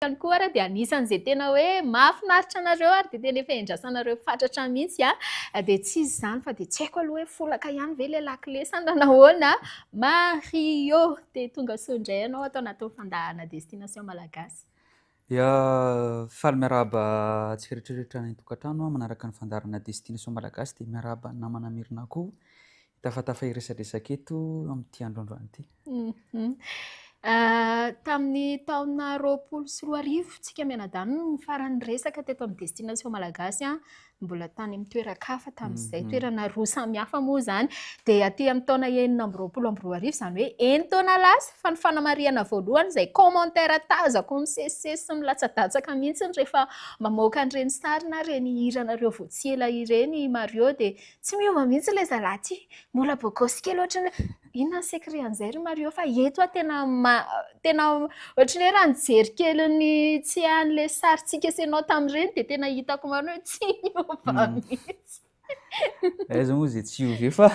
Ny koa ary dia anisan' izay tena hoe mahafinaritra anareo ary dia tena efa iandrasanareo fatratra mihitsy dia tsy izy izany fa dia tsy haiko aloha hoe folaka ihany ve ilay lakile sa na nahoana Mario dia tongasoa indray ianao ato anatin'ny fandaharana destination Malagasy. Ya, faly miarahaba antsika rehetra rehetra any an-tokantrano manaraka ny fandaharana destination Malagasy dia miarahaba ny namana Mirina koa Tafatafa hiresadresaka eto amin'ity androandroany ity. Tamin'ny taona roapolo sy roa arivo, tsika mianadahy no farany niresaka teto amin'ny Destination Malagasy, mbola tany amin'ny toeran-kafa tamin'izay, mhm. toerana roa samihafa moa izany. Dia aty amin'ny taona enina amby roapolo amby roa arivo, izany hoe enin-taona lasa, fa ny fanamarihana voalohany izay commentaire tazako misesisesy sy milatsadatsaka mihitsy rehefa mamoaka an'ireny sary na ireny hiranareo vao tsy ela ireny Mario, dia Tsy miova mihitsy ilay zalahy ty. Mbola bogosy kely ohatrany hoe inona ny secret an'izay ry Mario fa eto aho tena tena ohatrany hoe raha nijery kely ny tsy an'ilay sarintsika sy ianao tamin'ireny dia tena hitako marina hoe tsy miova mihitsy. Aiza moa izay tsy hiova eo fa.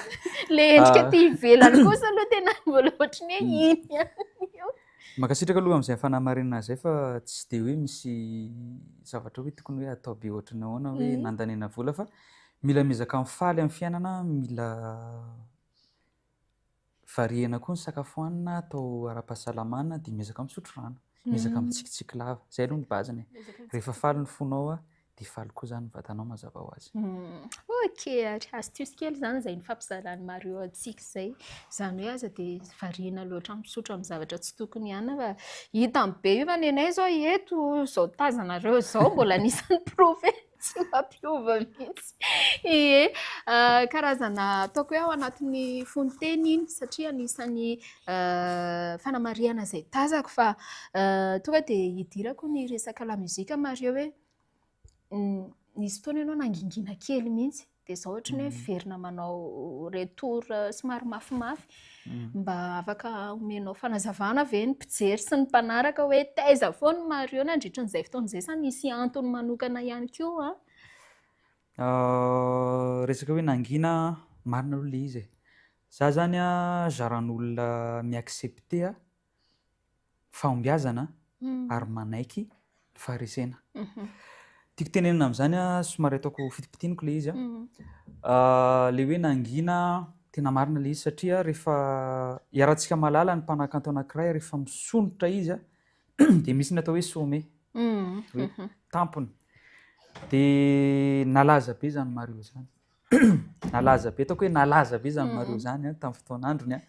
Ilay endrika aty ivelany kosa aloha tena mbola ohatrany hoe iny ihany io. Mankasitraka aloha amin'izay fanamarinana izay fa tsy dia hoe misy zavatra hoe tokony hoe atao be ohatrany ahoana hoe nandaniana vola fa Mila miezaka mifaly amin'ny fiainana, mila variana koa ny sakafo hanina atao ara-pahasalamana dia miezaka misotro rano, miezaka mitsikitsiky lava. Izay aloha ny base-ny e. Rehefa faly ny fonao a, dia faly koa izany ny vatanao mazava ho azy. Ok ary, astuce kely izany izay nifampizaran'i Mario antsika izay. Izany hoe aza dia variana loatra misotro amin'ny zavatra tsy tokony hanina fa hitany be io fa ny anay izao eto izao tazanareo izao mbola anisan'ny profeta. Tsy mampiova mihitsy. Ie. Karazana ataoko hoe ao anatin'ny fonon-teny iny satria anisan'ny fanamarihana izay tazako fa tonga dia hidirako ny resaka lamusique Mario hoe nisy fotoana ianao nangingina kely mihitsy. dia zao ohatry ny hoe miverina manao retour somary mafimafy mba afaka omenao fanazavana ve ny mpijery sy ny mpanaraka hoe taiza foana i Mario nandritra an'izay fotoana izay sa misy antony manokana ihany koa an? Ah, resaka hoe nangina, marina aloha ilay izy e. Za zany an, zaran'olona mi-accepter fahombiazana ary manaiky ny faharesena. Tiako tenenina amin'izany, somary ataoko fitipitiniko ilay izy. Ilay hoe nangina, tena marina ilay izy satria rehefa iharantsika mahalala ny mpanakanto anankiray rehefa misondrotra izy dia misy ny atao hoe sommet, hoe tampony. Dia nalaza be izany Mario izany. Nalaza be, ataoko hoe nalaza be izany Mario izany tamin'ny fotoan'androny.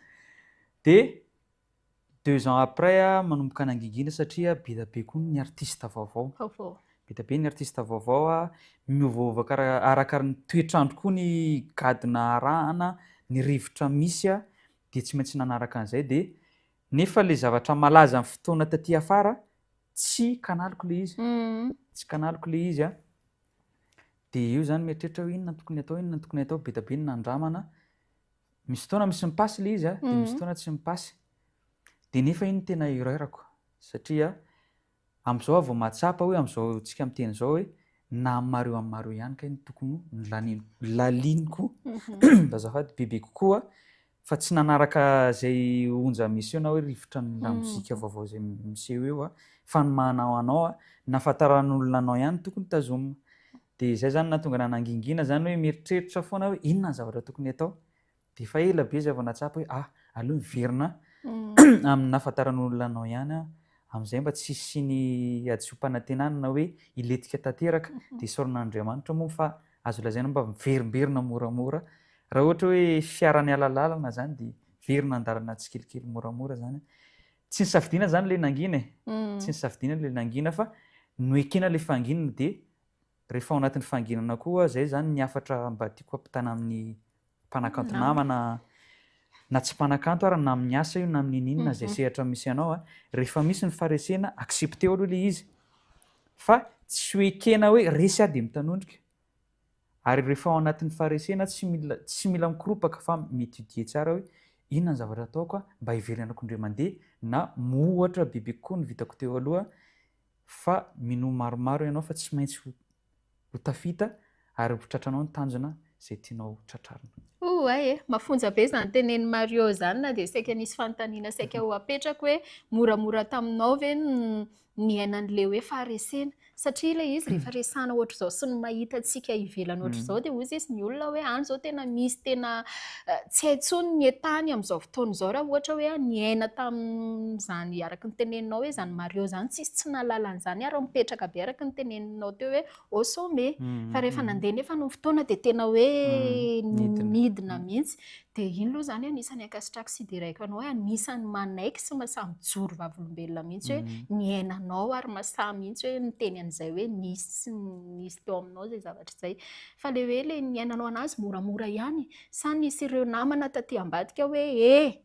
Dia Deux ans après manomboka nangingina satria beda be koa ny artiste vaovao. Vaovao. Beda be ny artiste vaovao a, miovaova kara- araka ny toetr'andro koa ny gadona arahana, ny rivotra misy a, dia tsy maintsy nanaraka an'izay dia nefa le zavatra malaza ny fotoana taty afara tsy kanaliko le izy, tsy kanaliko le izy a, dia eo zany mieritreritra hoe inona no tokony atao, inona no tokony atao, beda be ny nandramana, Misy fotoana misy mipasy ilay izy, dia misy fotoana tsy mipasy. Dia nefa iny tena erreur-ko, satria amin'izao aho vao mahatsapa hoe amin'izao antsika miteny izao hoe na amin'ny mario amin'ny mario ihany kay no tokony ho laliniko azafady bebe kokoa fa tsy nanaraka izay onja miseho na hoe rivotra ny lamozika vaovao izay miseho eo fa ny maha anao anao na fantaran'olona anao ihany tokony tazomina. Dia izay izany nahatonga anah nangingina izany hoe mieritreritra foana aho hoe inona ny zavatra tokony hatao. Dia efa ela be izay vao nahatsapa hoe ah, aleo miverina amin'ny nahafantaran'olona anao ihany aho, amin'izay mba tsy hisian'ny hadisoam-panantenana na hoe hilentika tanteraka. Dia isaoran'Andriamanitra moa fa azo lazaina mba miverimberina moramora. Raha ohatra hoe fiara niala lalana izany dia miverina an-dalana tsikelikely moramora izany. Tsy nisafidiana izany ilay nangina e, tsy nisafidiana ilay nangina fa noekena ilay fahanginana dia Rehefa ao anatin'ny fanginana koa, izay izany ny hafatra mba tiako hampitana amin'ny mpanakanto namana na tsy mpanakanto ary na amin'ny asa io na amin'ny ininona izay sehatra misy anao a, rehefa misy ny faharesena accepter-o aloha ilay izy fa tsy ho ekena hoe resy aho dia mitanondrika ary rehefa ao anatin'ny faharesena tsy mila tsy mila mikoropaka fa mi-étudier tsara hoe inona ny zavatra ataoko mba hiverenako indray mandeha na moa ohatra bebe kokoa ny vitako teo aloha Fa minoa maromaro ianao fa tsy maintsy ho ho tafita ary ho tratranao ny tanjona izay tianao ho tratrarina. Ouai e! Mafonja be izany tenenin'i Mario izany na dia saika nisy fanontaniana saika ho apetrako hoe moramora taminao ve ny niainan'ilay hoe faharesena? Satria ilay izy rehefa resahana ohatr'izao sy ny mahita antsika ivelany ohatr'izao dia hoy sisa ny olona hoe any izao tena misy tena Tsy hay intsony ny entany amin'izao fotoana izao raha ohatra hoe niaina tamin'izany araka ny teneninao hoe izany Mario izany tsisy tsy nahalala an'izany ary mipetraka be araka ny teneninao teo hoe au sommet. Mm, Fa rehefa mm. nandeha nefa ny fotoana dia tena hoe Mm, nidina. nidina mihitsy. Dia iny aloha izany anisan'ny ankasitrako sy idiraiko anao hoe anisan'ny manaiky sy masaha mijoro vavolombelona mihitsy hoe Mm. niainanao ary masaha mihitsy hoe miteny an'izay hoe nisy sy nisy teo aminao izay zavatra izay. Fa le hoe le niainanao anazy moramora ihany sa nisy ireo namana taty ambadika hoe e!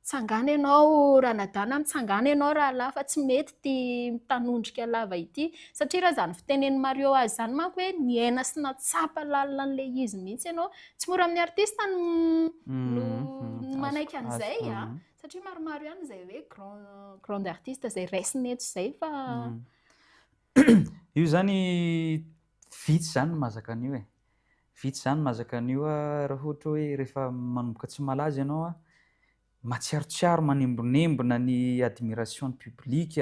Tsangana ianao ranadahy na mitsangana ianao rahalahy fa tsy mety ity mitanondrika lava ity. Satria raha izany fitenen'i Mario azy izany manko hoe niaina sy nahatsapa lalina an'ilay izy mihitsy ianao. Tsy mora amin'ny artista ny no ny manaiky an'izay a! Satria maromaro ihany izay hoe grand grande artiste izay raisina eto izay fa. Io izany Vitsy izany ny mazaka an'io e! Vitsy izany ny mazaka an'io raha ohatra hoe rehefa manomboka tsy malaza ianao an, matsiarotsiaro, manembonembona ny admiration ny public,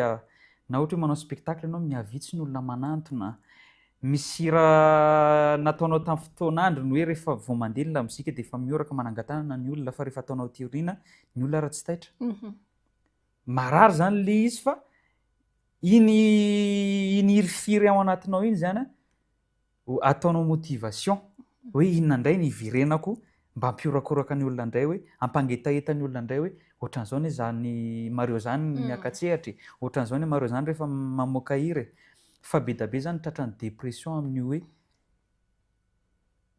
na ohatra hoe manao spectacle ianao mihavitsy ny olona manantona, misy hira nataonao tamin'ny fotoan'andro ny hoe rehefa vao mandeha ny lamozika dia efa mihoraka manangan-tanana ny olona fa rehefa ataonao aty aoriana ny olona ary tsy taitra. Marary zany le izy fa iny iny hirifiry ao anatinao iny zany ataonao motivation hoe inona indray ny hivirenako mba hampihorakoraka ny olona indray hoe hampangetaheta ny olona indray hoe ohatran'izao ny zany Mario zany mm. miaka-tsehatra e ohatran'izao ny Mario zany rehefa mamoaka hira e fa be da be zany tratra ny dépression amin'ny hoe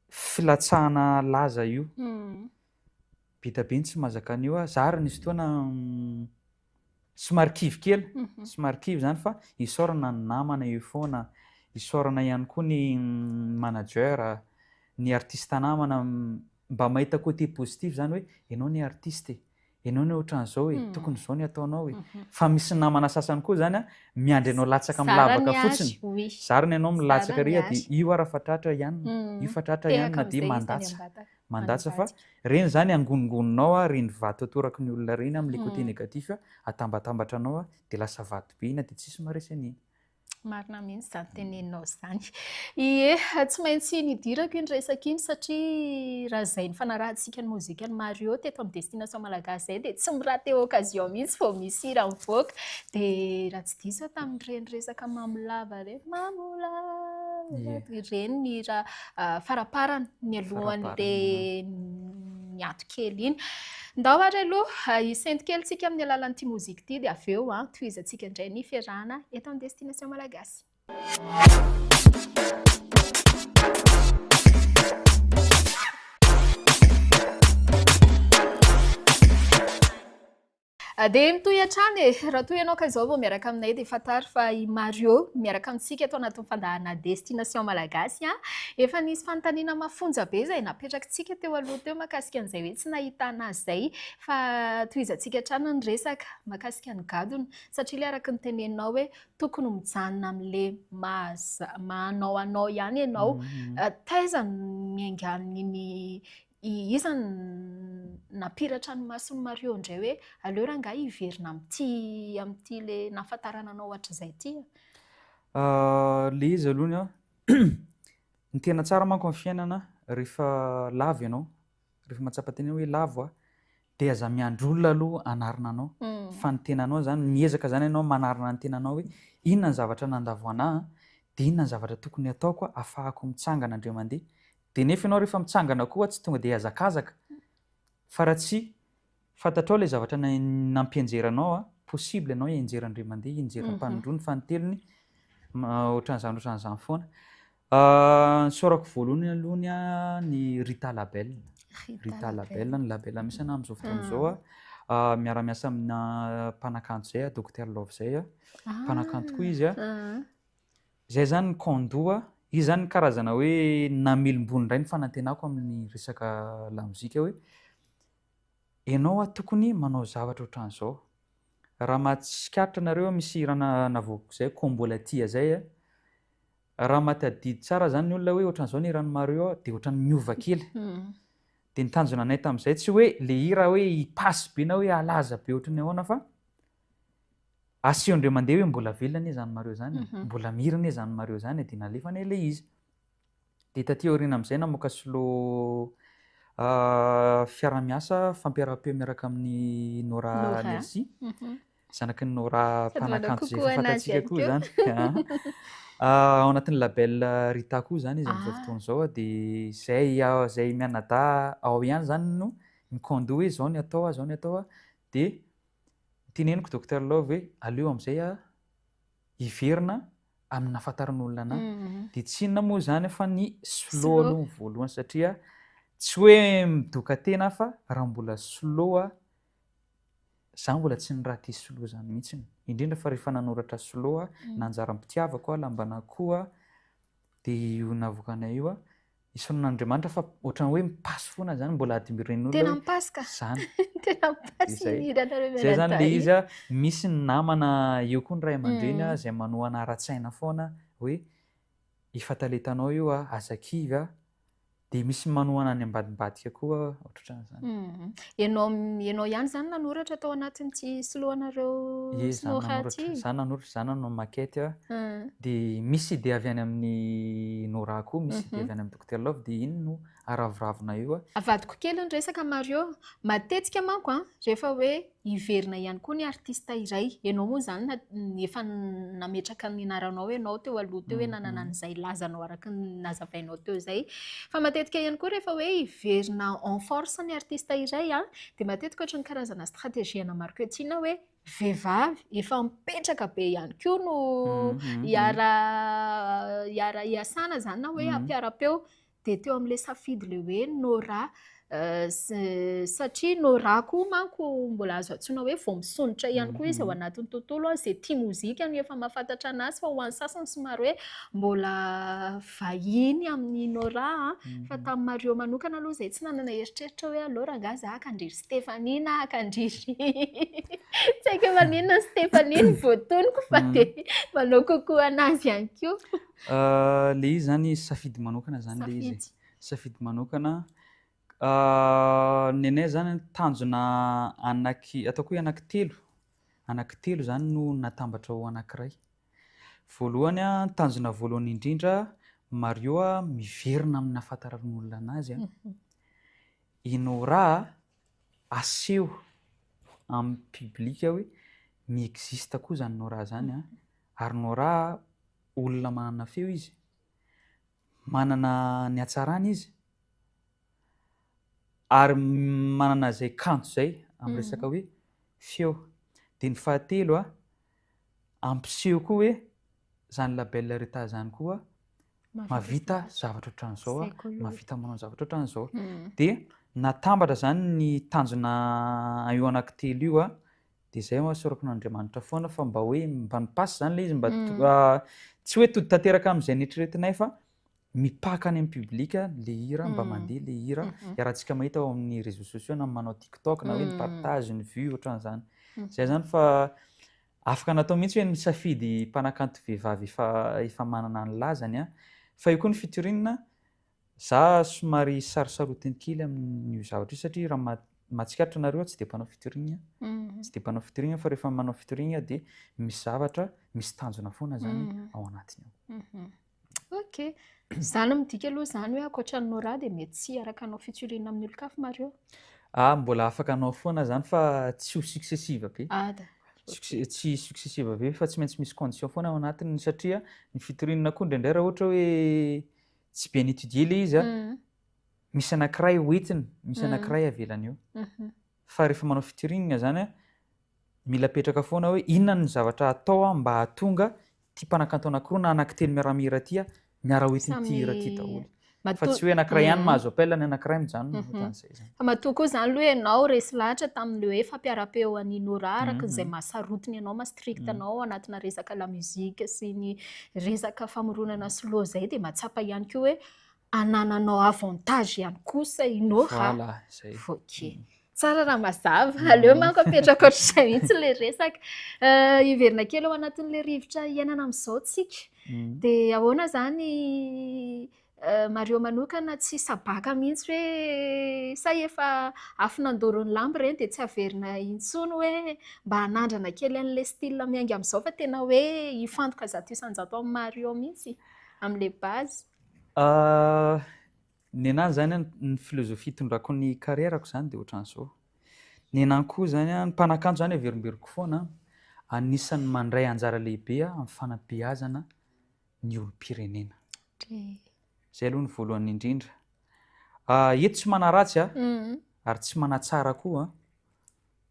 filatsahana laza io mm. Be da be ny tsy mazaka an'io a, zah ary nisy fotoana somary kivy kely, somary kivy zany fa isaorana ny namana eo foana, isaorana ihany koa ny manager, ny artiste namana mba mahita côté positif zany hoe enao anie artiste e, enao anie ohatran'izao e, tokony izao ny ataonao e, fa misy namana sasany koa zany a miandry anao latsaka amin'ny lavaka fotsiny, zariny ianao milatsaka ary dia io ara fa tratra ihany, io fa tratra ihany na dia mandatsa, mandatsa fa reny izany angonongoninao a, reny vato atoraky ny olona reny a, amin'ilay côté négatif a, atambatambatra anao a, dia lasa vato be iny a, dia tsisy maharesy an'iny. Marina mihitsy izany teneninao izany. Ie, tsy maintsy nidirako iny resaka iny satria raha izay nifanarahantsika ny mozikan'i Mario teto amin'ny Destination Malagasy izay dia tsy mi-rater occasion mihitsy vao misy hira mivoaka. Dia raha tsy diso aho tamin'ireny resaka Mamolava ireny, Mamolava, ireny ny hira. faraparany ny alohany be ny ato kely iny. Ndao ary aloha hisento kely tsika amin'ny alalan'ity mozika ity dia avy eo tohizantsika indray ny fiarahana eto amin'ny Destination Malagasy. Dia mitohy hatrany e! Raha toa ianao ka izao vao miaraka aminay dia fantaro fa i Mario miaraka amintsika eto anatin'ny fandaharana Destination Malagasy an! Efa nisy fanontaniana mafonja be izay napetrakitsika teo aloha teo mahakasika an'izay hoe tsy nahitana azy izay fa tohizantsika hatrany ny resaka mahakasika ny gadona satria ilay araka ny teneninao hoe tokony ho mijanona amin'ilay maha-anao anao ihany ianao. Taiza no niaingan'iny I iza no nampiratra ny mason'i Mario indray hoe aleo rangahy hiverina amin'ity amin'ity ilay nahafantarana anao hatrizay ity a? Ilay izy aloha an, ny tena tsara manko amin'ny fiainana rehefa lavo ianao, rehefa mahatsapa tena hoe lavo aho, Dia aza miandry olona aloha hanarina anao fa ny tenanao izany, miezaka izany ianao manarina ny tenanao hoe inona ny zavatra nandavo anà dia inona ny zavatra tokony ataoko ahafahako mitsangana indray mandeha. Dia nefa ianao rehefa mitsangana koa tsy tonga dia hazakazaka fa raha tsy fantatrao ilay zavatra nampianjera anao, possible ianao hianjera indray mandeha, hianjera am-panondroana, fanintelony, ohatran'izany ohatran'izany foana. Nisaorako voalohany aloha ny an'i Rita Label. Rita Label, ny Label misy anah amin'izao fotoana izao a. Ah, miara-miasa aminà mpanakanto izay aho, Docteur Love izay a. Ah. Mpanakanto koa izy a. Ah. Izay zany ny Kondo a. Izy zany karazana hoe namelombony indray ny fanantenako amin'ny resaka lamozika hoe ianao a tokony manao zavatra ohatran'izao. Raha mahatsikaritra anareo misy hira na- navoakako izay, Kombo Latia izay a. Raha mahatadidy tsara izany ny olona hoe ohatran'izao ny hiran'i Mario dia ohatran'ny miova kely. Dia ny tanjona anay tamin'izay tsy hoe ilay hira hoe hipass be na hoe halaza be ohatran'ny ahoana fa asehon-dry aman-deha hoe mbola velona anie izany Mario izany e, mbola mihira anie izany Mario izany e, dia nalefanay ilay izy. Dia taty aoriana amin'izay namoaka solo fiara-miasa fampiaram-peo miaraka amin'i Nora Nelsi. zanaky ny Nora mpanakanto izay efa fantatsika koa izany. Ao anatin'ny label Rita koa izany izy amin'izao fotoana izao dia izay izay mianadahy ao ihany izany no mi-condo hoe izao ny atao izao ny atao dia teneniko Docteur Love hoe aleo amin'izay hiverina amin'ny nahafantaran'olona anahy. Mhm. Dia tsy inona moa izany fa ny slow aloha voalohany satria tsy hoe midoka tena fa raha mbola slow Za mbola tsy niraty slo zany mihitsy indrindra fa rehefa nanoratra slo a na anjaran'ny mpitiavako a lamban'akoho a de io navoakanay io a isaorana an'Andriamanitra fa ohatran'ny hoe mi-passe foana zany mbola admiren'ny olona tena mi-passe ka zany tena mi-passe izay izay zany le izy a misy ny namana eo koa ny ray aman-dreny a izay manohana ara-tsaina foana hoe efa talentanao io a aza kivy a Dia misy manohana ny ambadimbadika koa ohatrohatran'izany. Ianao ianao ihany izany nanoratra tao anatin'ity soloanareo Sinoa ity? Izaho nanoratra, izaho nanao maquette. Dia misy idée avy any amin'i Nora koa, misy idée avy any amin'i Dokotera Love, dia iny no araviravina eo. Avadiko kely ny resaka Mario. Matetika manko rehefa hoe Hiverina ihany koa ny artista iray. Ianao moa izany na efa nametraka ny anaranao ianao teo aloha teo hoe nanana an'izay lazanao araka ny nazavainao teo izay. Fa matetika ihany koa rehefa hoe hiverina en force ny artista iray an, dia matetika ohatry ny karazana stratégie ana marketing hoe vehivavy efa mipetraka be ihany koa no hiara hiara hiasana izany na hoe hampiara-peo. dia teo amin'ilay safidy ilay hoe Nora satria Nora koa manko mbola azo antsoina hoe vao misondrotra ihany koa izy ao mhm. anatin'ny tontolo izay tia mozika no efa mahafantatra anazy fa ho an'ny sasany somary hoe mbola vahiny amin'ny Nora mhm. fa tamin'ny Mario manokana aloha izay tsy nanana eritreritra hoe alora angaha za akandriry Stéphanie na akandriry tsy haiko maninona Stéphanie ny voatoniko fa mhm. dia manao kokoa anazy ihany koa Le izy zany safidy manokana zany le izy e. Safidy manokana. Ny anay zany tanjona anaky, ataoko hoe anaky telo, anaky telo zany no natambatra ho anakiray. Voalohany a, ny tanjona voalohany indrindra, Mario a, miverina amin'ny nahafantaran'olona anazy a. I Nora a, aseho amin'ny public hoe mi-existe koa zany Nora zany a. Ary Nora a, Olona manana feo izy. Manana ny hatsarany izy. Ary manana izay kanto izay amin'ny mm. resaka hoe feo. Dia ny fahatelo a, ampiseho koa hoe izany label reta izany koa mavita zavatra ohatran'izao a, mavita manao zavatra ohatran'izao. Mm. Dia natambatra izany ny tanjona io anaky telo io a, de izay hoa sorako ny Andriamanitra foana fa mba hoe mba ny passe zany le izy mba tsy hoe tody tanteraka amizay neritreretinay fa mipaka any am public le hira mba mandeha le hira iarahantsika mahita ao amin'ny réseaux sociaux na manao tiktok na hoe ny partage ny vue otran'zany zay zany fa afaka natao mihitsy hoe misafidy mpanakanto vehivavy efa efa manana ny lazany an fa eo koa ny featuring Za somary sarosarotin kely amin'io zavatra io satria raha ma mahatsikaritra nareo aho tsy dia mpanao featuring a, tsy dia mpanao featuring aho fa rehefa manao featuring aho dia misy zavatra misy tanjona foana zany ao anatiny ao. Ok, za no midika aloha zany hoe ankoatra an'i Nora dia mety tsy hiaraka hanao featuring amin'ny olon-kafa Mario? Ah, mbola afaka hanao foana zany fa tsy ho successive be, Ada, ok. tsy successive be fa tsy maintsy misy condition foana ao anatiny satria ny featuring koa indraindray raha ohatra hoe Tsy bien étudié le izy an! Misy anakiray ho entiny, misy anakiray avelany eo. Fa rehefa manao featuring zany an, mila apetraka foana hoe inona ny zavatra atao an mba hahatonga ity mpanakanto anakiroa na anakitelo miara-mihira ity an miara ho entin'ity hira ity daholo. Fa tsy hoe anakiray ihany mahazo appel ny anakiray mijanona, ohatran'izay. Matoa koa izany aloha ianao resy lahatra tamin'ilay hoe fampiaram-peo an'i Nora araka izay maha sarotiny anao, maha strict anao ao anatina resaka la musique sy ny resaka famoronana solo izay dia mahatsapa ihany koa hoe anananao avantage ihany kosa i Nora. Voilà, izay. Ok. Tsara raha mazava. Aleo manko apetraka ohatr'izay mihitsy ilay resaka. Hiverina kely ao anatin'ilay rivotra iainana amin'izao isika. Dia ahoana izany Mario manokana tsy sabaka mihitsy hoe say efa afo nandoro ny lamba ireny dia tsy averina intsony hoe mba hanandrana kely an'ilay style miainga amin'izao fa tena hoe hifantoka zato isan-jato amin'i Mario mihitsy amin'ilay base. Ny anahy izany ny philosophie itondrako ny carrière-ko izany dia ohatran'izao. Ny anahy koa izany ny mpanakanto izany averimberiko foana anisan'ny mandray anjara lehibe amin'ny fanabeazana ny olom-pirenena. Izay aloha ny voalohany indrindra. Eto tsy manaratsy a, ary tsy manatsara koa,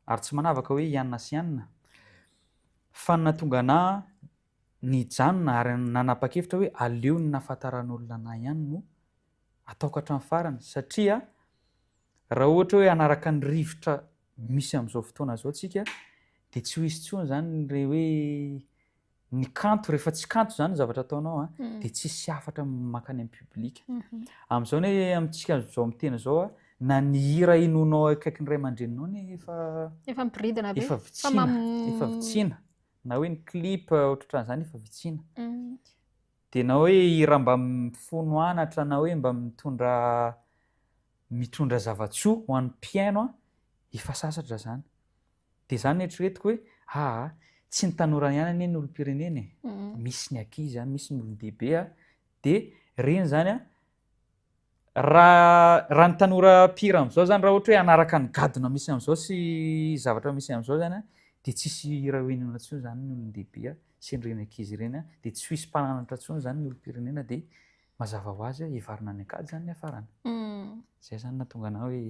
ary tsy manavaka hoe ianona sy ianona, fa ny nahatonga anah nijanona ary nanapa-kevitra hoe aleo ny nahafantaran'olona anah ihany no ataoko hatramin'ny farany, satria raha ohatra hoe hanaraka ny rivotra misy amin'izao fotoana izao isika dia tsy ho hisy intsony izany ilay hoe ny kanto rehefa tsy kanto zany zavatra ataonao a de tsisy hafatra makany am public amzao ne amitsika zao miteny zao a na ny hira henoinao akaikin'ny ray amandreninao ne efa efa miboridana be efa vitsina efa vitsina na hoe ny clip otrotran zany efa vitsina de na hoe hira mba mifono anatra na hoe mba mitondra mitondra zavatsoa ho an'ny mpihaino a efa sasatra zany Dia izany no eritreretiko hoe aa tsy ny tanora ihany anie no olom-pirenena e, misy ny ankizy a, misy ny olon-dehibe a, dia ireny izany a, raha raha ny tanora mpihira amin'izao izany raha ohatra hoe hanaraka ny gadona misy amin'izao sy zavatra misy amin'izao izany a, dia tsy hisy hira ho henoina intsony izany ny olon-dehibe sy an'ireny ankizy ireny a, dia tsy ho hisy mpananatra intsony izany ny olom-pirenena dia Mazava ho azy hoe hivarina any an-kady izany ny hiafarany. Izay izany nahatonga anà hoe,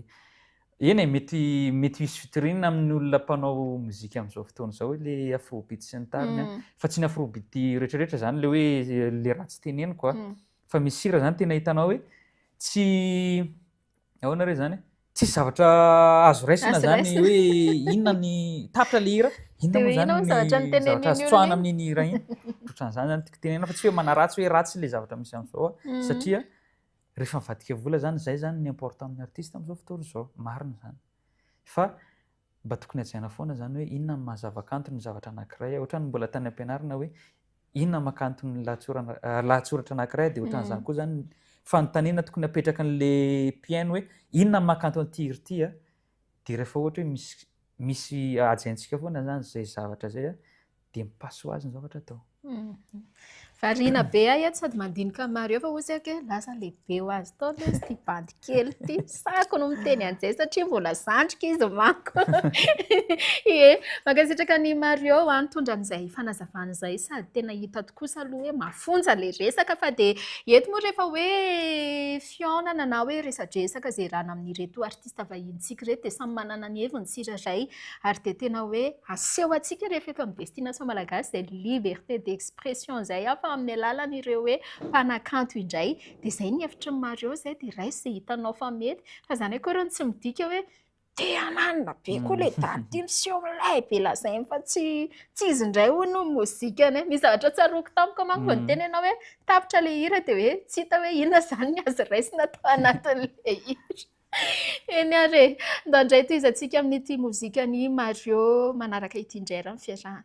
eny e, mety mety hisy fitoriana amin'ny olona mpanao mozika amin'izao fotoana izao ilay afrobeat sy ny tariny an, fa tsy ny afrobeat rehetrarehetra izany ilay hoe ilay ratsy teneniko an, fa misy hira izany tena hitanao hoe tsy Ahoana re zany? Tsisy zavatra azo raisina Azo zany raisina. hoe inona ny tapitra le hira, inona Dia moa hoe zany inona ny ny zavatra nitenenin'iny zavatra azo olona tsoahana iny? amin'iny hira iny. Ohatran'izany zany tiako tenenina fa tsy hoe manaratsy hoe ratsy le zavatra misy am'zao a. Mhm. Satria rehefa mivadika vola zany zay zany ny important amin'ny artiste am'zao fotoana zao, marina zany. Fa Mba tokony hajaina foana izany hoe inona no maha zavakanto ny zavatra anankiray. Ohatran'ny mbola tany am-pianarana hoe inona no maha kanto ny lahatsoratra anankiray dia ohatran'izany koa izany fanontaniana tokony hapetraka an'ilay mpihaino hoe inona no maha kanto an'ity hira ity dia rehefa ohatra hoe misy misy hajaintsika foana izany izay zavatra izay dia mi-paso azy ny zavatra atao. Mhm. Variana be ahy eto sady mandinika maro eo fa hoy isika hoe lasa lehibe ho azy tao ilay izy ity bandy kely ity. Sako no miteny an'izay satria mbola zandriko izy manko. Ie, mankasitraka an'i Mario a, nitondra an'izay fanazavana izay sady tena hita tokoa sa aloha hoe mafonja ilay resaka fa dia eto moa rehefa hoe fihaonana na hoe resadresaka izay rana amin'ireto artista vahinintsika ireto dia samy manana ny heviny tsirairay ary dia tena hoe aseho antsika rehefa eto amin'ny destination malagasy izay liberté d'expression izay an fa amin'ny alalan'ireo hoe mpanakanto indray dia izay ny hevitry ny maro eo izay dia raiso izay hitanao fa mety fa izany akory hono tsy midika hoe Te hananina be koa le daty ty miseho milay be lazainy fa tsy tsy izy indray hono no mozika any. Misy zavatra tsaroako tamiko manko vao niteny ianao hoe tapitra le hira dia hoe tsy hita hoe inona izany ny azo raisina tao anatin'le hira. Eny ary e, ndao indray tohizantsika amin'ity mozikan'i Mario manaraka ity indray ary ny fiarahana.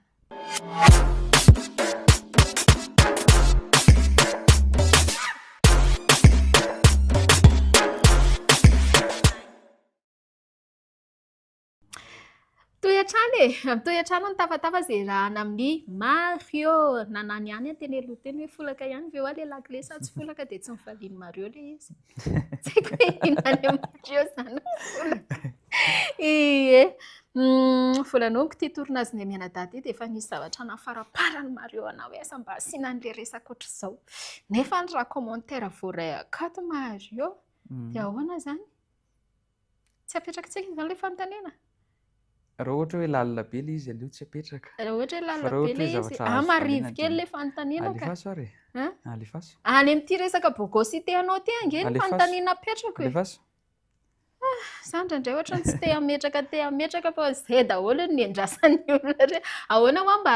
Mitohy hatrany e! Mitohy hatrany ny tafatava izay iarahana amin'i Mario. Na na ny ahy ny antenimieko teny hoe folaka ihany ve ho'a ilay lakile sa tsy folaka dia tsy nifalian'i Mario ilay izy. Tsy haiko hoe inona any amin'i Mario izany ny folaka. Ie. Volanomiko ity tournage an'i Nenianadahy ity dia efa nisy zavatra nahafaramparany Mario anà hoe asa mba asiana an'ilay resaka ohatr'izao. Nefa raha commentaire voaray akato Mario dia ahoana izany? Tsy apetrakitsika izany ilay fanontaniana? Raha ohatra hoe lalina be ilay izy aleo tsy apetraka. Raha ohatra hoe lalina be ilay izy, ah marivo kely ilay fanontaniana ka. Alefaso ary e. Alefaso. Any amin'ity resaka bogosité anao ity ange ny fanontaniana apetrako e. Alefaso. Ah, za indraindray ohatra tsy te hametraka te hametraka fa izay daholo ny niandrasan'ny olona re. Ahoana hoa mba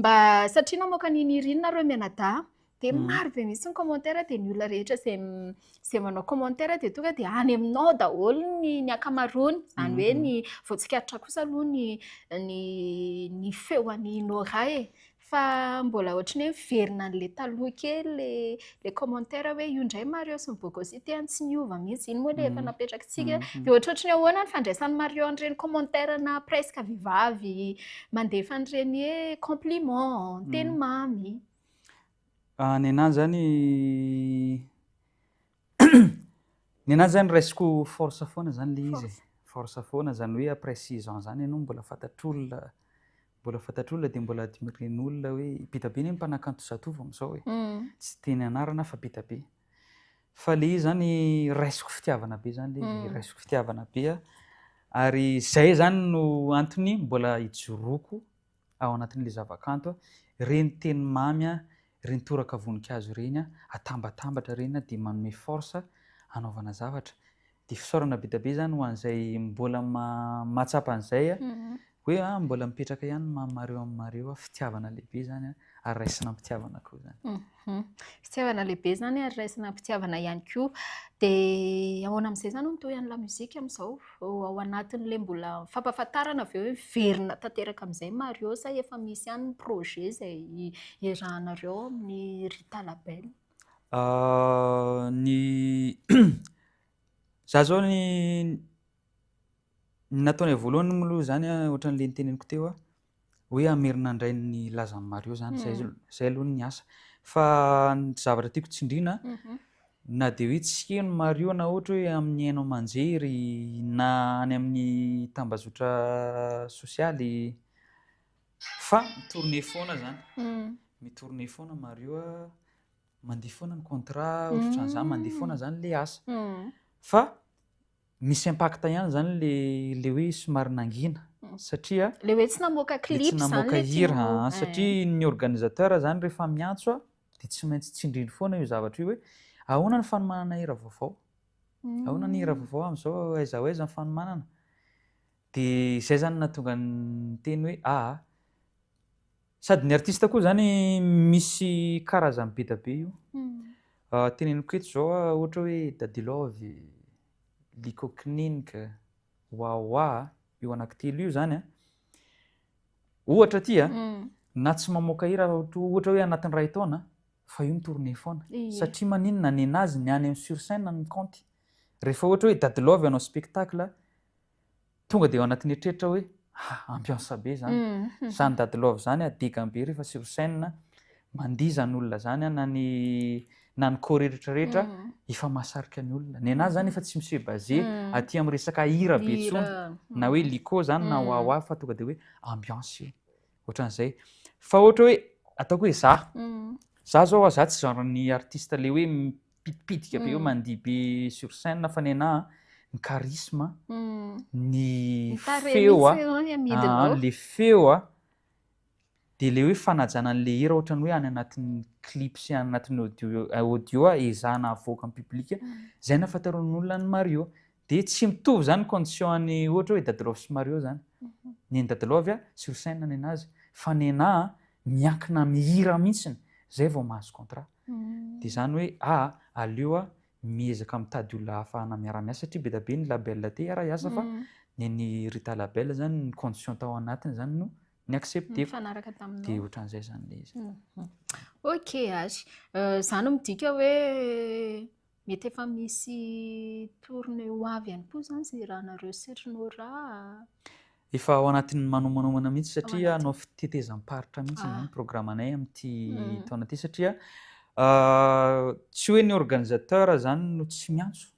mba satria namoaka ny nirinina reo mianadahy. dia mm. maro be mihitsy ny commentaire dia ny olona rehetra izay izay manao commentaire dia tonga dia any aminao daholo ny ny ankamaroany izany hoe mm. ny voatsikaritra kosa aloha ny ny ny feo any Nora e fa mbola ohatry ny hoe miverina an'le taloha kely le le commentaire hoe io indray Mario sy ny Bogosy ity any tsy miova mihitsy iny moa le efa mm. napetrakitsika mm. dia ohatrohatry ny ahoana ny fandraisan'ny Mario an'ireny commentaire na presque vehivavy mandefa an'ireny hoe compliment teny mamy Ah, nenà zany nenà zany raisiko force foana zany le izy e. Force foana zany hoe après six ans zany ianao mbola fantatr'olona mbola fantatr'olona dia mbola admiren'olona hoe Bitabe anie ny mpanakanto Zatovo amin'izao e. Hmm. Tsy teny anarana fa Bitabe. Fa le izy zany raisiko fitiavana be zany le hmm. raisiko fitiavana be a. Ary zay zany no antony mbola ijoroako ao anatin'ilay zavakanto a, ireny teny mamy a, ireny toraka voninkazo ireny a, atambatambatra ireny a, dia manome force hanaovana zavatra. Dia fisaorana be dia be izany ho an'izay mbola mahatsapa an'izay hoe mbola mipetraka ihany ny mamareo aminareo a, fitiavana lehibe izany a. ary raisina am-pitiavana koa izany. Mhm. Fitiavana lehibe izany ary raisina am-pitiavana ihany koa. Dia ahoana amin'izay izany no mitohy an'ny lamozika amin'izao? Ao anatin'ilay mbola fampahafantarana avy eo hoe miverina tanteraka amin'izay Mario sa efa misy ihany ny projet izay iarahanareo amin'ny Rita Label? Ah, ny za zao ny ny nataonay voalohany moa aloha zany a, ohatran'le niteneniko teo a, hoe hamerina indray ny lazan'i Mario zany zay mm. zay aloha ny asa fa ny zavatra tiako tsindrina mhm. na dia hoe tsy heno Mario na ohatra hoe amin'ny haino aman-jery na any amin'ny tambazotra sosialy fa mitourne foana zany mm. mitourne foana Mario a mandeha foana ny contrat ohatrany mm. zany mandeha foana zany le asa fa Misy impact ihany zany le le hoe somary nangina satria le hoe tsy namoaka clip zany le tsy namoaka hira satria ny organisateur zany rehefa miantso a de tsy maintsy tsindriny foana io zavatra io hoe ahoana ny fanomanana hira vaovao ahoana ny hira vaovao amizao aiza ho aiza ny fanomanana de zay zany natonga ny teny hoe aa Sady ny artiste koa zany misy karazany be da be io. Teneniko eto zao a, ohatra hoe Dadilaovy, Liko Kninik, Wawa, io anaky telo io zany a. Ohatra ty a, na tsy mamoaka hira aza ohatra hoe anatiny ray taona fa io mi-tourner foana. Satria maninona, nenazy ny any am sur scène ny kaonty. Refa ohatra hoe Dadilaovy hanao spectacle, tonga dia ao anatin'ny eritreritra hoe ah ambiance be zany mm-hmm. zany dady love zany a digan be rehefa sur scène mandihy zany olona zany a na ny na ny corps rehetra rehetra mm-hmm. efa mahasarika ny olona ny anazy zany efa tsy misy base mm-hmm. aty amin'ny resaka hira be tsony na hoe lico zany na wawa fa tonga dia hoe ambiance io ohatran'izay fa ohatra hoe ataoko hoe za za zao a za tsy genre ny artiste le hoe pitipitika be eo mandihy be sur scène fa nenà ny charisme ny feo a le feo a dia le hoe fanajana an'le hira ohatrany hoe any anatin'ny clip sy any anatin'ny audio audio a ezahana havoaka amin'ny public izay nahafantaran'olona an'i Mario dia tsy mitovy izany ny condition an'i ohatra hoe Dadilove sy Mario izany ny an'i Dadilove a sur scène nenà azy fa nenà miankina amin'ny hira mihitsy izay vao mahazo contrat Dia izany hoe a aleo a miezaka mitady olona ahafahana miara-miasa satria be dia be ny label te hiara hiasa fa ny an'i Rita Label izany ny condition tao anatiny izany no ni-accepter-ko. Nifanaraka taminao. Dia ohatran'izay izany ilay izy. Ok, Azy. Izany midika hoe Mety efa misy tourne ho avy ihany koa izany izay irahanareo sy ry Nora a! Efa ao anatin'ny manomanoamana mihitsy satria hanao fitetezam-paritra mihitsy izany ny programanay amin'ity taona ity satria tsy hoe ny organisateur izany no tsy miantso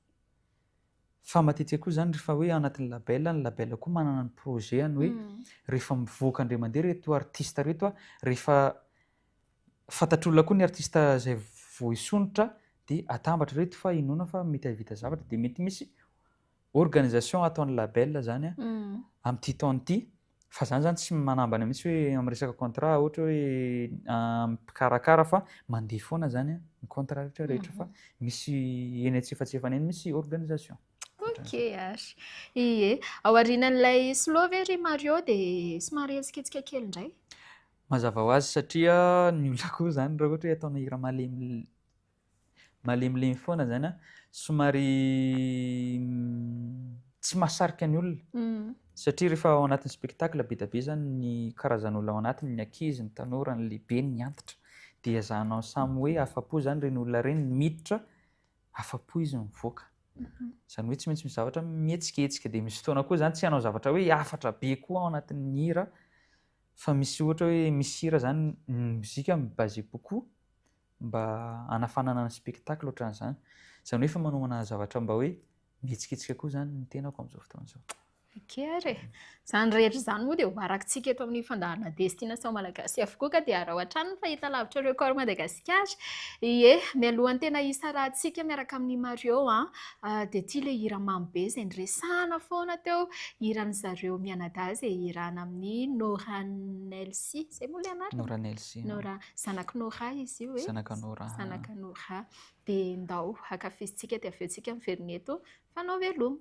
fa matetika koa izany rehefa hoe anatin'ny label, ny label koa manana ny projet-ny hoe rehefa mivoaka indray mandeha ireto artista ireto rehefa Fantatr'olona koa ny artista izay voaisonitra dia atambatra ireto fa inoana fa mety hahavita zavatra dia mety misy organisation ataon'ny label izany amin'ity taona ity fa izany izany tsy manambana mihitsy hoe amin'ny resaka contrat ohatra hoe mpikarakara fa mandeha foana izany ny contrat rehetra rehetra fa misy eny antsefatsefany eny misy organisation. Ok ary. Ie, ao aorianan'ilay slow ve ry Mario dia somary hetsiketsiky kely indray? Mazava ho azy satria ny olona koa izany raha ohatra hoe ataonao hira malemy malemilemy foana izany a, somary tsy mahasarika ny olona satria rehefa ao anatin'ny spectacle be dia be izany ny karazan'olona ao anatiny, ny ankizy, ny tanora, ny lehibe, ny antitra dia ezahanao samy hoe afa-po izany ireny olona ireny, ny miditra afa-po izy mivoaka. Izany hoe tsy maintsy misy zavatra mihetsiketsika dia misy fotoana koa izany tsy hanao zavatra hoe hafatra be koa ao anatin'ny hira Fa misy ohatra hoe misy hira zany ny mozika mi baser beaucoup mba hanafanana ny spectacle ohatran'izany. Izany hoe efa manomana zavatra mba hoe mihetsiketsika koa izany ny tenako amin'izao fotoana izao. Ok ary e! Izany rehetra izany moa dia ho arakitsika eto amin'ny fandaharana Destination Malagasy avokoa ka dia araho hatrany ny fahitalavitra Record Madagasikara. Ie, mialohan'ny tena hisarahantsika miaraka amin'i Mario an! Ah dia ity ilay hira mamy be izay niresahana foana teo, hiran'i zareo mianadahy izay hirana amin'i Nora Nelsy, izay moa ilay anarany? Nora Nelsy. Nora, zanak'i Nora izy io e. Zanaka Nora. Zanaka Nora. Dia ndao hankafizintsika dia avy eo tsika miverina eto fanao veloma.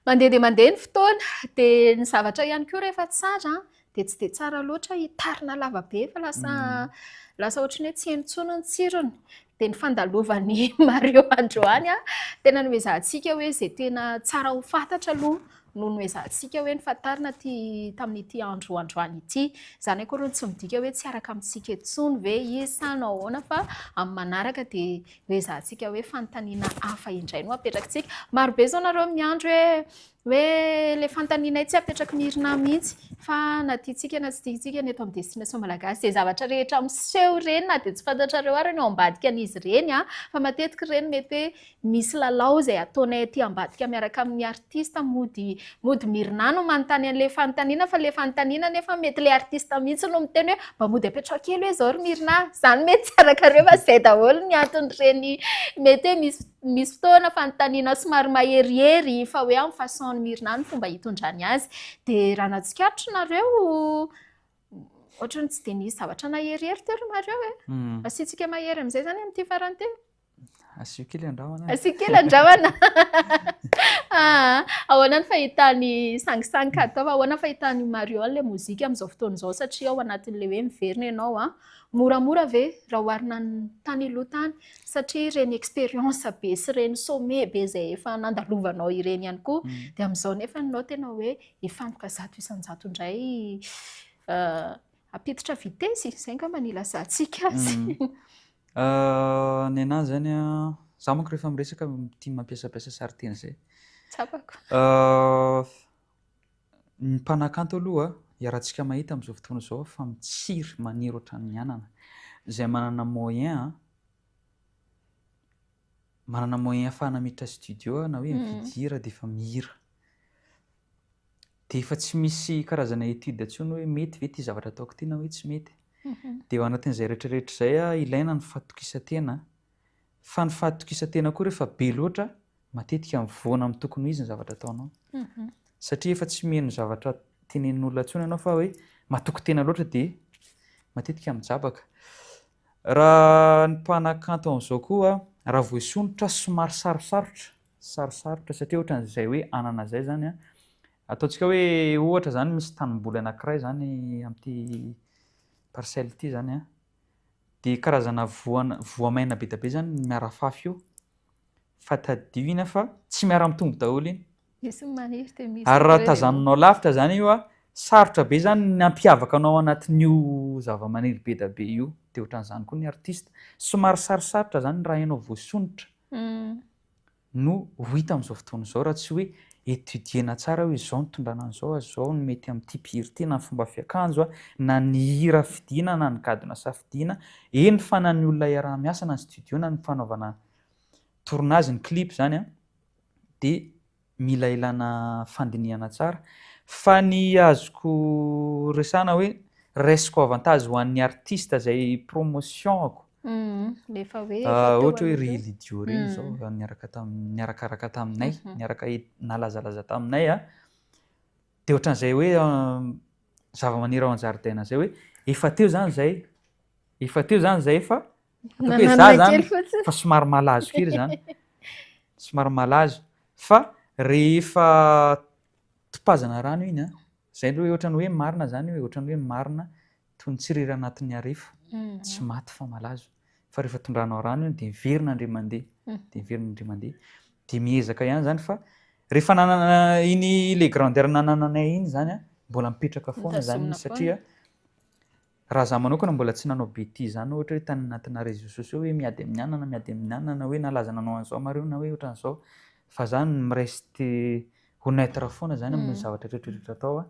Mandeha dia mandeha ny fotoana, dia ny zavatra ihany koa rehefa tsara dia tsy dia tsara loatra hitarina lava be fa lasa mm. lasa ohatran'ny hoe tsy heno intsony ny tsirony. Dia ny fandalovan'ny Mario androany a, tena noezahantsika hoe izay tena tsara ho fantatra aloha no noezahantsika hoe nifantarina ty tamin'ity andro androany ity. Izany akory no tsy midika hoe tsy araka amintsika intsony ve izy sa no ahoana fa amin'ny manaraka dia ho ezahantsika hoe fanontaniana hafa indray no apetrakitsika. Marobe izao nareo miandry hoe hoe ilay fanontanianay tsy apetraky ny IRNA mihitsy fa na tiantsika na tsy tiantsika ny eto amin'ny destination malagasy dia zavatra rehetra miseho ireny na dia tsy fantatrareo ary ny ao ambadika an'izy ireny fa matetika ireny mety hoe misy lalao izay ataonay aty ambadika miaraka amin'ny artiste mody mody mirna no manontany an'ilay fanontaniana fa ilay fanontaniana nefa mety ilay artiste mihitsy no miteny hoe mba mody apetraho kely hoe izao ry mirna a! izany mety tsy arakareo fa izay daholo ny anton'ireny mety hoe misy misy fotoana fanontaniana somary maherihery fa hoe amin'ny façon an'i mirna ny fomba hitondrany azy dia raha nahatsikaritra nareo ohatran'ny tsy dia nisy zavatra naherihery teo ry nareo e! asiantsika mahery amin'izay izany amin'ity farany ity Asio kely andrahona. Asio kely andrahona. Ah, ahoana ny fahitany sangisangy ka ataova? Ahoana ny fahitany Mariol le mozika amin'izao fotoana izao satria ao anatin'le hoe miverina ianao ah. Moramora ve raha oharina ny tany aloha tany satria ireny expérience be sy ireny sommet be izay efa nandalovanao ireny ihany koa mm. dia amin'izao nefa nao tena hoe hifantoka zato isan-jato indray ah, apititra vitesse izay angamba ny ilazantsika azy. Mm. Ah, ny anahy zany an, za manko rehefa miresaka tia mampiasapiasa sariteny zay. Tsapako. Ah, ny mpanakanto aloha iarahantsika mahita amzao fotoana zao fa mitsiry maniry otran'ny anana zay manana moyen an, manana moyen afahana miditra studio na hoe mividy hira defa mihira. dia efa tsy misy karazana étude intsony hoe mety ve ity zavatra ataoko ity na hoe tsy mety. Dia ao anatin'izay rehetrarehetra izay ah, ilaina ny fahatokisan-tena. Fa ny fahatokisan-tena koa rehefa be loatra, matetika mivoana amin'ny tokony ho izy ny zavatra ataonao. Satria efa tsy miheno zavatra tenenin'olona intsony ianao fa hoe matoky tena loatra dia matetika mijabaka. Raha ny mpanakanto an'izao koa, raha voaisonitra somary sarosarotra Sarosarotra satria ohatran'izay hoe anana izay izany an, ataontsika hoe ohatra izany misy tanimboly anankiray izany amin'ity parcelle ity izany an, dia karazana voan- voamaina be dia be izany ny miarafafy io, fa tadidio iny an fa tsy miara-mitombo daholo iny, Misy ny maniry dia misy ary raha ireo dia- tazaninao lavitra izany io an, sarotra be izany ny hampiavaka anao anatin'io zavamaniry be dia be io, dia ohatran'izany koa ny artista, somary sarosarotra izany raha ianao voasondrotra, Hum. no ho hita amin'izao fotoana izao raha tsy hoe étudier-na tsara hoe izao no tondrana an'izao a, izao no mety amin'ity mpihira ity na ny fomba fiakanjo a, na ny hira fidiana na ny gadona safidiana, eny fa na ny olona iaraha-miasa na ny studio na ny fanaovana tournage ny clip izany a dia Mila ilana fandinihana tsara. Fa ny azoko resana hoe raisiko avantage ho an'ny artiste zay promotion-ako. Rehefa hoe efa teo aloha. Ohatra hoe ry Lydio reny izao efa niaraka tamin'ny niarakaraka taminay, niaraka nalazalaza taminay a. Dia ohatran'izay hoe zavamaniry ao an-jaridaina izay hoe efa teo izany izay, efa teo izany izay fa. Nananina kely fotsiny. Fa somary malazo kely izany. Somary malazo. Fa rehefa topazana rano iny, izay aloha hoe ohatran'ny hoe marina izany hoe ohatran'ny hoe marina toy ny tsirera anatin'ny harefo. Mhm. Tsy maty fa malazo. Fa rehefa tondranao rano iny dia miverina indray mandeha. Mhm. Dia miverina indray mandeha. Dia miezaka ihany izany fa rehefa nanana iny le grandeur nanananay iny izany, mbola mipetraka foana izany Mitazona foana. satria. Raha za manokana mbola tsy nanao betizy zany ohatra hoe tany anatina réseaux sociaux hoe miady amin'ny anana miady amin'ny anana hoe nalaza nanao an'zao mareo na hoe otran'zao fa za mi-reste honnêtre foana zany amin'ny zavatra retraretra atao a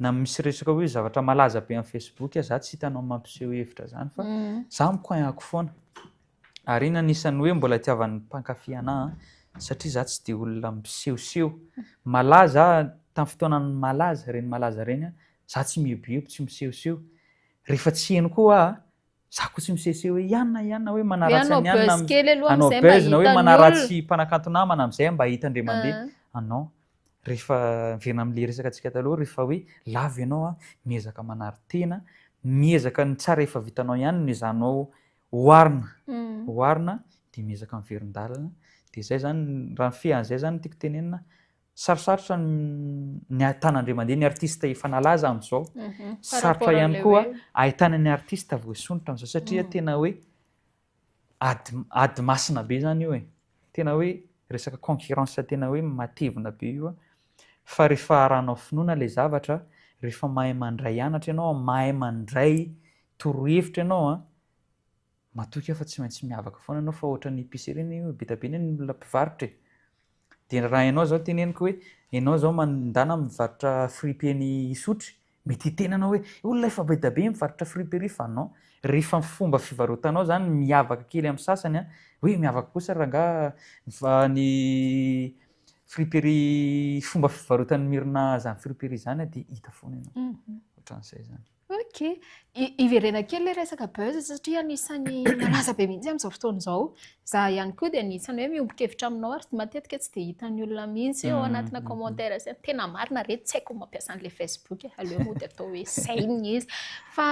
na misy resaka hoe zavatra malaza be amin'ny facebook a za tsy hitanao mampiseho hevitra zany fa za mi-coin ako foana Ary iny anisan'ny hoe mbola itiavan'ny mpankafy anah satria za tsy dia olona misehoseho. Malaza tamin'ny fotoanan'ny malaza ireny malaza ireny aho, za tsy mieboebo, tsy misehoseho. Rehefa tsy heno koa aho, za koa tsy misehoseho hoe i anona, i anona hoe manaratsy an'i anona. Hanao buzz kely aloha amin'izay mba hitan'ny olona. Hanao buzz na hoe manaratsy mpanakanto namana amin'izay aho mba hita indray mandeha. Ah non, rehefa miverina amin'ilay resaka antsika taloha rehefa hoe lavo ianao aho, miezaka manary tena, miezaka ny tsara efa vitanao ihany no ezahanao Oharina, oharina dia miezaka miverin-dalana dia izay izany, raha ny fean'izay izany no tiako tenenina, sarosarotra ny ahitana indray mandeha ny artista efa nalaza amin'izao, sarotra ihany koa ahitana ny artista voasondrotra amin'izao satria tena hoe ady, ady masina be izany io e, tena hoe resaka concurrence tena hoe matevina be io an. Fa rehefa arahanao finoana ilay zavatra, rehefa mahay mandray anatra ianao, mahay mandray torohevitra ianao, matoky aho fa tsy maintsy miavaka foana ianao fa ohatran'ny epicerie anie io e, be dia be anie ny olona mpivarotra e. Dia raha ianao izao teneniko hoe ianao izao mandana mivarotra fripeny hisotry, Mety hiteny anao hoe, olona efa be dia be mivarotra friperie fa non, rehefa ny fomba fivarotanao izany miavaka kely amin'ny sasany an, hoe miavaka kosa ry rangahy fa ny friperie fomba fivarotan'i Myrna izany friperie izany dia hita foana ianao. Ohatran'izay izany. Ok. Hiverena kely ilay resaka buzz satria anisan'ny malaza be mihitsy amin'izao fotoana izao Za ihany koa dia anisan'ny hoe miombon-kevitra aminao ary matetika tsy dia hitan'ny olona mihitsy ao anatina commentaires hoe tena marina re tsy haiko ny mampiasa an'ilay Facebook e, aleo mody atao hoe izay ny izy fa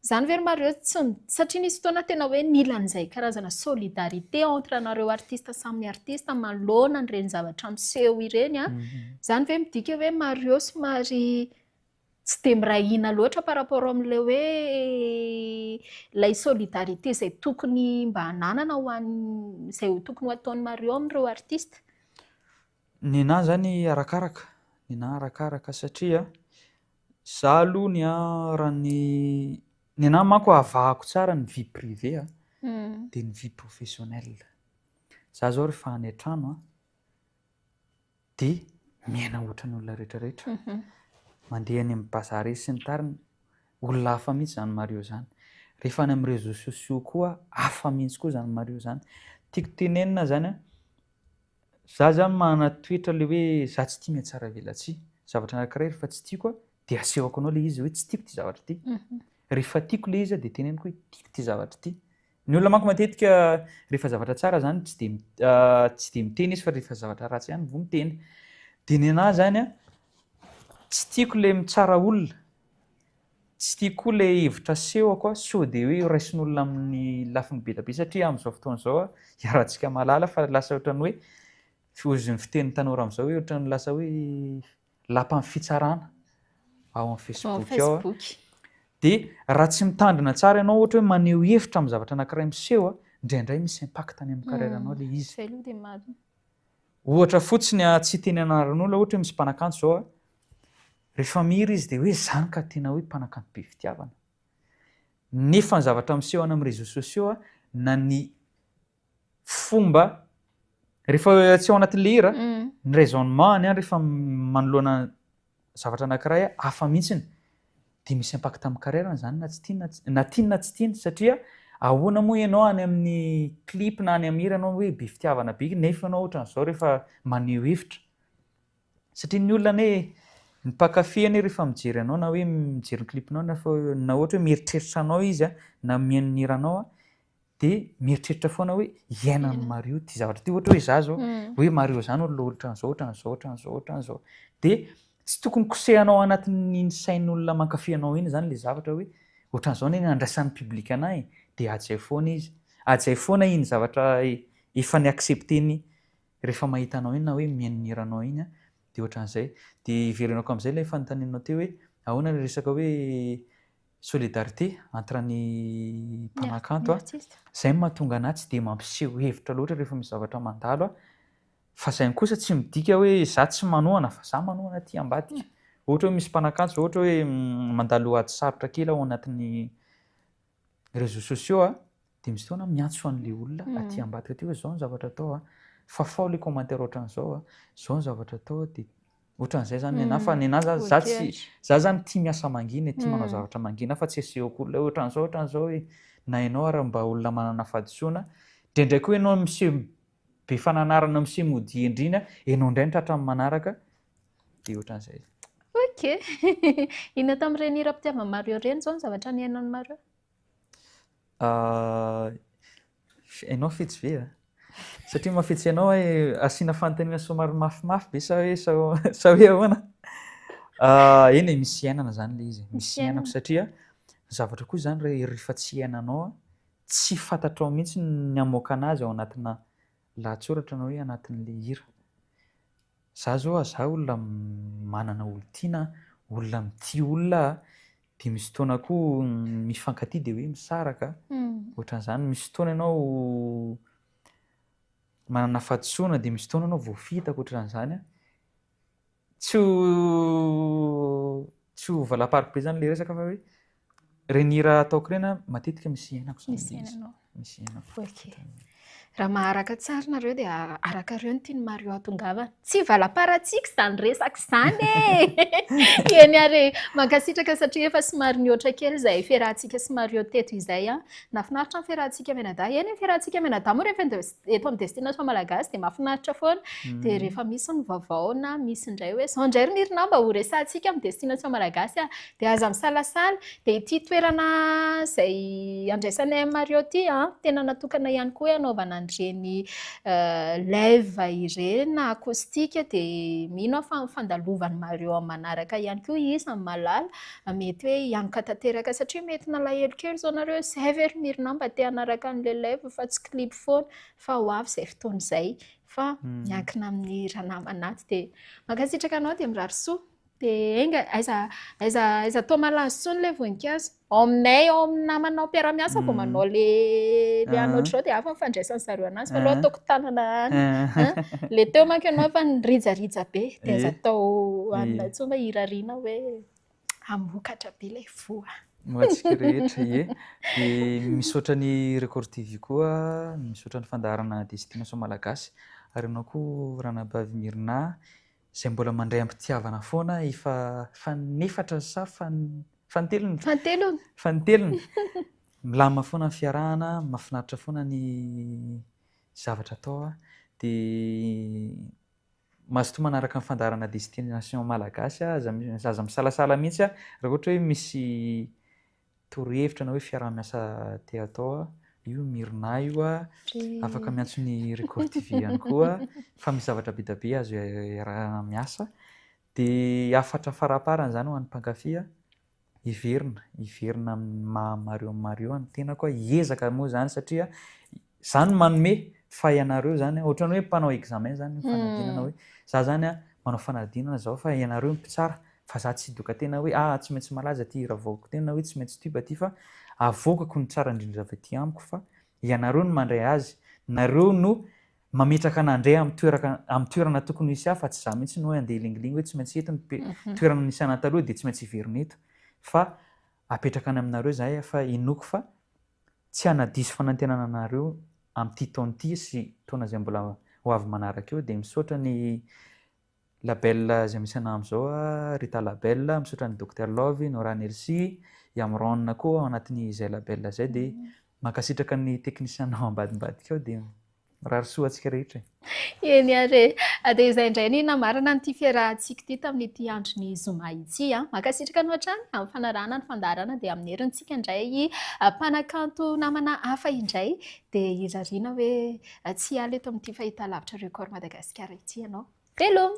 izany ve ry Mario tsy mi-, satria nisy fotoana tena hoe nila an'izay karazana solidarité entre anareo artiste samy artiste manoloana an'ireny zavatra miseho ireny an, izany ve midika hoe Mario somary tsy dia miray hina loatra par rapport amin'ilay hoe ilay solidarité izay tokony mba hananana ho an'ny, izay tokony ho ataon'i Mario amin'ireo artistes. Nenaha izany arakaraka, nenaha arakaraka satria za aloha ny ahy raha ny, nenaha manko avahako tsara ny vie privée a dia ny vie professionnelle. Za izao rehefa any an-trano a. Dia miaina ohatran'ny olona rehetra rehetra. Mandeha any amin'ny bazary sy ny tariny. Olona hafa mihitsy izany Mario izany. Rehefa any amin'ny réseaux sociaux koa hafa mihitsy koa izany Mario izany. Tiako tenenina izany an, za izany manana toetra ilay hoe za tsy tia mihatsaravelatsihy. Zavatra anankiray rehefa tsy tiako an, dia asehoko anao ilay izy hoe tsy tiako ity zavatra ity. Rehefa tiako ilay izy an, dia teneniko hoe tiako ity zavatra ity. Ny olona manko matetika rehefa zavatra tsara zany tsy de tsy de miteny izy fa rehefa zavatra ratsy ihany vao miteny. De ny anahy zany a tsy tiako le mitsara olona. Tsy tiako koa le hevitra asehoko a sao de hoe raisin'olona amin'ny lafiny be dia be satria amin'izao fotoana izao a iarahantsika mahalala fa lasa ohatran'ny hoe foizin'ny fitenin'ny tanora amin'izao hoe ohatran'ny lasa hoe lapan'ny fitsarana ao amin'ny Facebook ao dia raha tsy mitandrina tsara ianao ohatra hoe maneho hevitra amin'ny zavatra anankiray miseho a indraindray misy impact any amin'ny carrière anao ilay izy. Zay aloha dia marina. Ohatra fotsiny a tsy teny anaran'olona ohatra hoe misy mpanakanto zao a rehefa mihira izy dia hoe zany ka tena hoe mpanakanto be fitiavana. Nefa ny zavatra miseho any amin'ny réseaux sociaux a na ny fomba rehefa tsy ao anaty lera ny raisonnement any rehefa manoloana zavatra anankiray hafa mihitsiny dia misy impact amin'ny carrière an'izany na tsy tiana na tiany na tsy tiany satria ahoana moa ianao any amin'ny clip na any amin'ny hira ianao hoe be fitiavana be nefa ianao ohatran'izao rehefa maneho hevitra satria ny olona anie ny mpankafy anie rehefa mijery anao na hoe mijery ny clip-nao na ohatra hoe mieritreritra anao izy na mihaino ny hiranao dia mieritreritra foana hoe hiaina amin'i Mario ity zavatra ity. Ohatra hoe izaho izao, hoe Mario izany olona ohatran'izao, ohatran'izao, ohatran'izao, ohatran'izao. Dia tsy tokony kosehanao ao anatin'iny sain'olona mankafy anao iny izany ilay zavatra hoe ohatran'izao anie ny andraisan'ny public anà e, dia ady izay foana izy. Ady izay foana iny zavatra efa ni-accepter-ny rehefa mahita anao iny na hoe mianihira anao iny, dia ohatran'izay. Dia hevereno koa amin'izay ilay fanontanianao teo hoe ahoana ilay resaka hoe Solidarité entre ny mpanakanto a, izay no mahatonga an'ahy tsy dia mampiseho hevitra loatra rehefa misy zavatra mandalo a, fa izay kosa tsy midika hoe za tsy manohana fa za manohana aty ambadika, ohatra hoe misy mpanakanto zao ohatra hoe mandalo ady sarotra kely ao anatin'ny réseaux sociaux a, Dia misy fotoana miantso an'ilay olona aty ambadika aty hoe izao ny zavatra atao a, fa fao ilay commentaire ohatran'izao a, izao ny zavatra atao a, dia ohatran'izay izany ny anà, fa ny anà za za tsy za izany tia miasa mangina e, tia manao zavatra mangina fa tsy asehoko olona hoe ohatran'izao ohatran'izao e, na ianao ary mba olona manana fahadisoana, indraindray koa ianao miseho be fananarana miseho mody hendrina, ianao indray ny tratran'ny manaraka, dia ohatran'izay. Ok, inona tamin'ireny hira mpitiava-Mario ireny izao ny zavatra nihainan'i Mario? Enao fetsy ve a? Satria mafetsy anao hoe asiana fanontaniana somary mafimafy be sa hoe sa hoe ahoana? Eny e, misy iainana zany le izy, misy iainako satria zavatra koa zany rehefa tsy iainanao tsy fantatrao mihitsy ny hamoaka anazy ao anatina lahatsoratra na hoe anatin'le hira. Za zao aza olona manana olon-tiana a, olona mitia olona a, dia misy fotoana koa ny mifankatia dia hoe misaraka a, ohatran'izany. Misy fotoana ianao manana fahadisoana dia misy fotoana ianao voafitaka ohatran'izany a. Tsy ho tsy ho valam-paribezana ilay resaka fa hoe Ireny hira ataoko ireny an, matetika misy henako izany. Misy henanao. Misy henako. Ok. Raha maharaka tsara nareo dia arakareo ny tian'i Mario hatongavana. Tsy valaparatsiaka izany resaka izany e! Eny ary e! Mankasitraka satria efa somary nihoatra kely izay fiarahantsika sy Mario teto izay an. Nahafinaritra ny fiarahantsika mianadahy. Eny ny fiarahantsika mianadahy moa rehefa ende- eto amin'ny Destination Malagasy dia mahafinaritra foana. Dia rehefa misy ny vaovao na misy indray hoe izao indray ry Niryna mba ho resahantsika amin'ny Destination Malagasy an! Dia aza misalasala, dia ity toerana izay andraisanay an'i Mario ity an, tena natokana ihany koa hoe hanaovana an'ireny live ireny na acoustique, dia mino aho fa fandalovan'i Mario amin'ny manaraka ihany koa izy amin'i Malala, mety hoe hianoka tanteraka satria mety nalahelo kely izao nareo hoe izay ve ry Mirina mba te hanaraka an'ilay live fa tsy clip foana, fa ho avy izay fotoana izay, fa miankina amin'ny ranamana ato, dia mankasitraka anao dia mirary soa. Dia enga, aiza, aiza, aiza toa malazo intsony ilay voninkazo. Ao aminay, ao amin'ny namanao mpiara-miasa vao manao ilay ilay anao ohatr'izao dia hafa ny fandraisan'ny zareo ananjy. Fa aleo ataoko tanana any. Ilay teo manko ianao efa nirijarija be, dia aiza atao aminay intsony mba hirariana hoe hamokatra be ilay voa. Ho antsika rehetra, ie. Dia misaotra ny Record TV koa, misaotra ny fandaharana Destination Malagasy, ary ianao koa Ranabavy Myrna. Izay mbola mandray am-pitiavana foana i fa fanefatra sa fan fantelony? Fantelony. Fantelony. Milamina foana ny fiarahana, mahafinaritra foana ny zavatra atao a. Dia mazotoa manaraka ny fandaharana Destination Malagasy a, aza aza misalasala mihitsy a raha ohatra hoe misy Torohevitra na hoe fiaraha-miasa te hatao a, io Myrna io a, afaka miantso ny Record TV ihany koa fa misy zavatra be dia be azo iaraha-miasa. Dia hafatra faraparany izany ho an'ny mpankafy a, hiverina, hiverina amin'ny maha Mario Mario ny tenako a, hiezaka moa izany satria, Zany manome fa ianareo zany ohatrany hoe mpanao examen zany fanadinana hoe za zany manao fanadinana zao fa ianareo mpitsara fa za tsy doka tena hoe ah tsy maintsy malaza ty hira vaovako tena na hoe tsy maintsy tuba ty fa avoakako ny tsara indrindra avy aty amiko fa ianareo no mandray azy nareo no mametraka anandray amin'ny toeraka amin'ny toerana tokony hisy ahy fa tsy za mihitsy no hoe andeha hilingilingy hoe tsy maintsy eto ny mhm. toerana nisy anataloha dia tsy maintsy hiverina eto fa apetraka any aminareo zahay fa inoako fa tsy hanadiso fanantenana anareo amin'ity taona ity sy taona izay mbola ho avy manaraka eo dia misaotra ny label izay misy anah amin'izao a Rita label misaotra ny Docteur Love Nora Nelsi i Amron koa ao anatin'izay label izay dia mankasitraka ny technicien-nao ambadimbadika ao dia Mirary soa antsika rehetra e. Eny ary e. Dia izay indray ny namarana an'ity fiarahantsika ity tamin'ity andron'ny zoma ity. Mankasitraka anao hatrany amin'ny fanarahana ny fandaharana dia amin'ny herintsika indray mpanakanto namana hafa indray dia hirariana hoe tsy hiala eto amin'ity fahitalavitra Record Madagasikara ity ianao. Veloma!